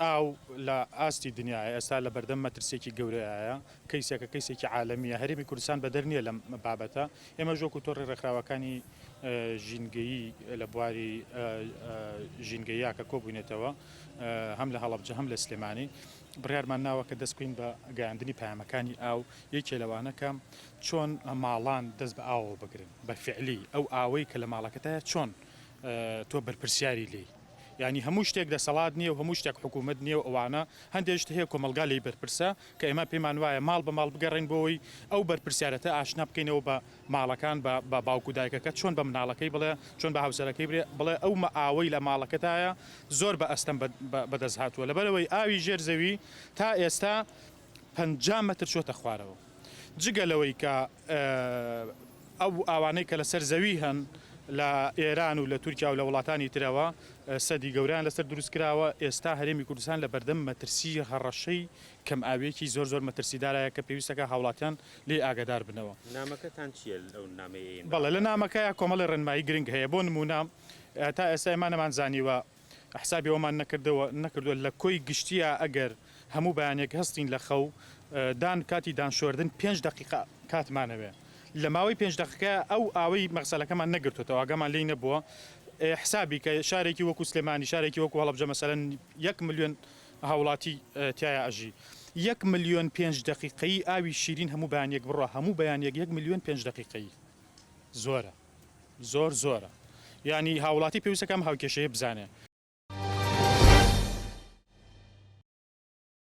ئاو لە ئاستی دنیاە ئێستا لە بەردەم مەترسێکی گەورەیە کەیسەکە کەیسێکی عاالمیە هەرێمی کوردستان بەدەر نیە لەم بابەتە ئێمە ژۆک و تۆڕی ڕێکخراوەکانی ژینگەیی لە بواری ژینگەیە کە کۆبوونێتەوە هەم لە هەڵبجە هەم لە سلێمانی بڕارمان ناوە کە دەستکوین بە گەیاندنی پامەکانی ئاو یەکێ لەوانەکە چۆن ماڵان دەست بە ئاوەوە بگرن بە فیعلی ئەو ئاوەی کە لە ماڵەکەتایە چۆن تۆ بەرپرسیاری لێی یانی هەموو شتێک دەسەڵات نییە و هەموو شتێک حکوومەت نییە و ئەوانە هەندێک شت هەیە کۆمەڵگا لێی بەرپرسە کە ئێمە پێمان وایە ماڵ بە ماڵ بگەڕێین بۆی ئەو بەرپرسیارەتە ئاشنا بکەینەوە بە ماڵەکان بە بە باوک و دایکەکە چۆن بە مناڵەکەی بڵێ چۆن بە هاوسەرەکەی برێ بڵێ ئەو مە ئاوەی لە ماڵەکەتایە زۆر بە ئەستەم بە بە بەدەست هاتووە لەبەرەوەی ئاوی ژێر زەوی تا ئێستا پەنجا مەتر چۆتە خوارەوە. جگە لەوەی کە ئەو ئاوانەی کە لەسەر زەوی هەن لە ئێران و لە تورکیا و لە وڵاتانی ترەوە سەدی گەورەیان لەسەر دروست کراوە، ئێستا هەرێمی کوردستان لە بەردەم مەترسی هەڕەشەی کەمئاوییەکی زۆر زۆر مەترسیدارایە کە پێویستە کە هاوڵاتیان لێی ئاگادار بنەوە. نامەکەتان چییە ئەو نامەیەی ئێمە؟ بەڵێ لە نامەکەیا کۆمەڵێ ڕێنمایی گرنگ هەیە بۆ نموونە تا ئێستا ئێمە نەمانزانیوە حسابی ئەوەمان نەکردەوە نەکردوە لە کۆی گشتیا ئەگەر هەموو بەیانێک هەستین لە خەو دان کاتی دان شۆردن پێنج دەقیقە کاتمان ئەوێ لە ماوەی پێنج دەقیقە ئەو ئاوەی مەغسەلەکەمان نەگرتوەوە ئاگامان لێی نەبووە حسابی کە شارێکی وەکو سلێمانی شارێکی وەکو هەڵبجە مەسەلەن یەک ملیۆن هاوڵاتی تایە ئەژی یەک ملیۆن پێنج دەقیقەی ئاوی شیرین هەموو بەیانێک بڕە هەموو بەیانێک یەک ملیۆن پێنج دەقیقەی زۆرە زۆر زۆرە یانی هاوڵاتی پێویستەکەم هاوکێشەیە بزانێ.